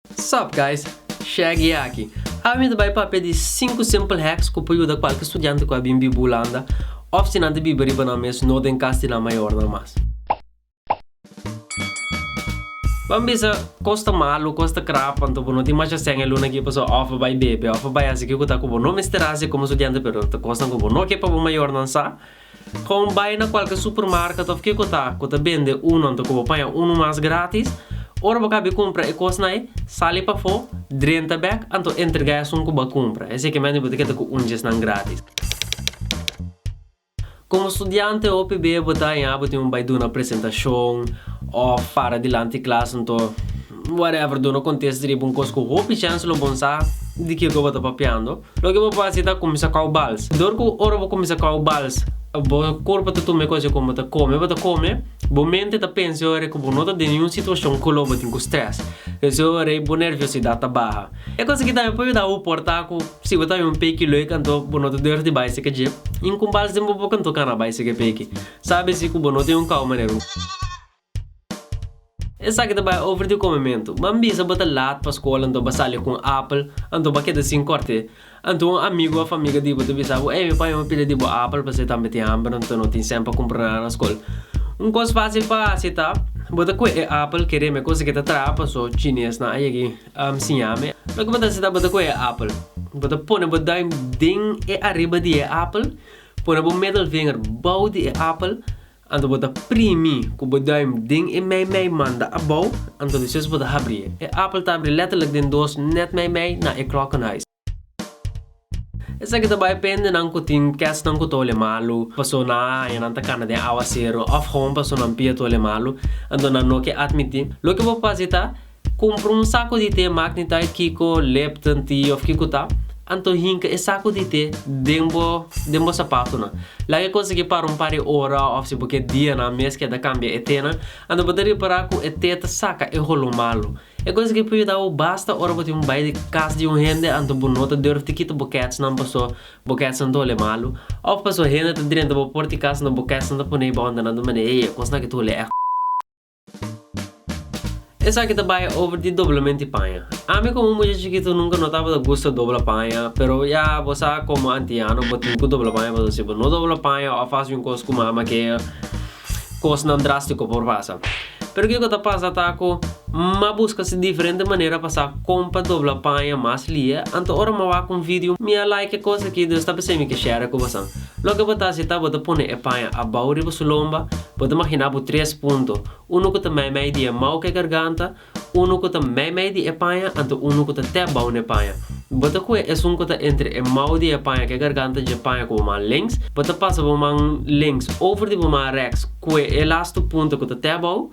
Sup guys, Shaggy aki. Awe mi ta bai papia di sinku simple hacks ku por yuda kualke studiante ku a bin biba Hulanda òf si nan ta biba riba nan mes no den kas di nan mayornan mas. Ban bisa kos ta malu, kos ta krap anto bo no tin masha sèn e luna aki pasobra òf bo bai bebe òf bo bai hasi ke ku ta ku bo no mester hasi komo studiante pero ta kosnan ku bo no ke pa bo mayornan sa. Kon bai na kualke supermarket of kiko ta ku ta bende unu anto ku bo paña unu mas gratis. Ora bo kabe kumpra e kosnai, sali pafó, drenta bek anto entrega esun ku bo a kumpra. Esei ke mende bo ta keda ku un djesnan gratis. Komo studiante hopi be bo ta haña bo tin un bai duna presentashon of para dilanti klas anto whatever duna konteste riba un kos ku hopi chens lo bon sa di kiko bo ta papiando. Loke bo pasa ta cuminsa cau bals. Dor cu ora bo cuminsa cau bals bo curpa ta tuma e cosnan cu bo ta come, bo ta come, bo mente ta pensa e ora cu bo no ta den ningun situacion cu lo bo tin cu stress. P'esey e ora ey bo nerviosidad ta baha. E cos aki tambe por yuda bo por ta cu si bo ta bin un peki lueg anto bo no ta durmi di bay seca djep y un cu bals den bo boca anto cana bay seca e peki. Sabe si cu bo no tin un cau manera. Esaki ta bai over di comementu. M'a bisa bo ta laat pa school anto b'a sali cu un apple anto b'a keda sin corte. Anto un amigo of amiga di bo ta bisa bo ey mi paña un pila di bo apple p'esei tambe tin hamber anto no tin cent pa cumpra nada na school. Un cos facil pa haci ta bo ta coge e apple kere mi a cosa ke ta traha paso chinesnan a yegi a siña mi. Loke bo ta haci ta bo ta coge e apple bo ta pone bo duim den e ariba di e apple pone bo middle vinger bou di e apple Anto bo ta primi ku bo duim den e meimei manda abou, anto despues bo ta habri e. E apel ta habri letterlijk den dos net meimei na e klokkenhuis. Esaki ta bai pende nan ku tin kèstnan ku tole malu, paso nan a haña nan ta kana den awa sero òf hon paso nan pia tole malu, anto nan no ke atmiti. Loke bo por fasi ta. Kumpra un saku di te Magnitite kiko Lipton Tea of kiko ta, anto hinka e saku di te den bo den bo sapatunan. Laga e konsegui para un par di ora of si bo ke dianan mes keda kambia e tenan, anto bo ta ripara ku e te ta saka e holo malu. E konsegui por yuda bo basta ora bo tin un bai di kas di un hende anto bo no ta durf di kita bo kètsnan paso bo kètsnan ta hole malu of paso hende ta drenta bo por di kas anto bo kètsnan ta pone bo unda nan ta mane, Ey e kosnan aki ta hole èk. Esaki ta bay over di doblemente di paña. Ami como un mucha chikito nunca no tabata gusta dobla paña, pero ya bo sa como antiano bo tin cu dobla paña pasobra si bo no dobla paña of hasi un cos cu mama ke cosnan drastico por pasa. Pero kico ta pasa ta cu m'a busca si diferente manera pa sa con pa dobla paña mas lia, anto ora m'a wak un video mi a like e cos aki, dus ta p'esei mi ke share cu bosan. Loke bo ta hasi ta bo ta pone e paña abou riba su lomba, bo ta maginá bo tres punto, unu ku ta meimei di e mou ku e garganta, unu ku ta meimei di e paña anto unu ku ta te bou n'e paña. Bo ta kue esun ku ta entre e mou di e paña ku e garganta dje paña ku bo man links, bo ta pasa bo man links over di bo man reks, kue e lastu punto ku ta te bou,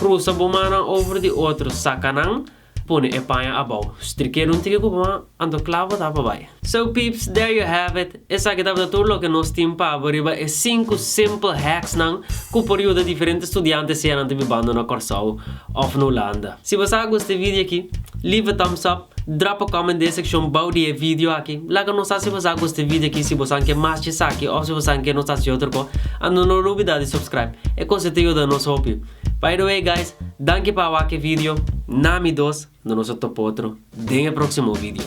krusa bo mannan over di otro, saka nan, Pone e paña abao. Strikero un tiki ku bo a anto kla bo ta pa bai. So peeps there you have it, esaki tabata tur loke nos tin pa abo riba e sinku simple hacks nan ku por yuda diferente studiante sea nan ta bibando na Kòrsou of na Hulanda. Si bo sa a gusta e video aki, leave a thumbs up, drop a comment den e sekshon bou di e video aki, laga nos sa si bo sa a gusta e video aki, si bo sa ke mas dje esaki of si bo sa ke nos hasi otro kos, anto no lubida di subscribe, e kos ei ta yuda nos hopi. By the way guys, danki pa a wak e video, na mi dos, no nos a topa otro den e proximo video.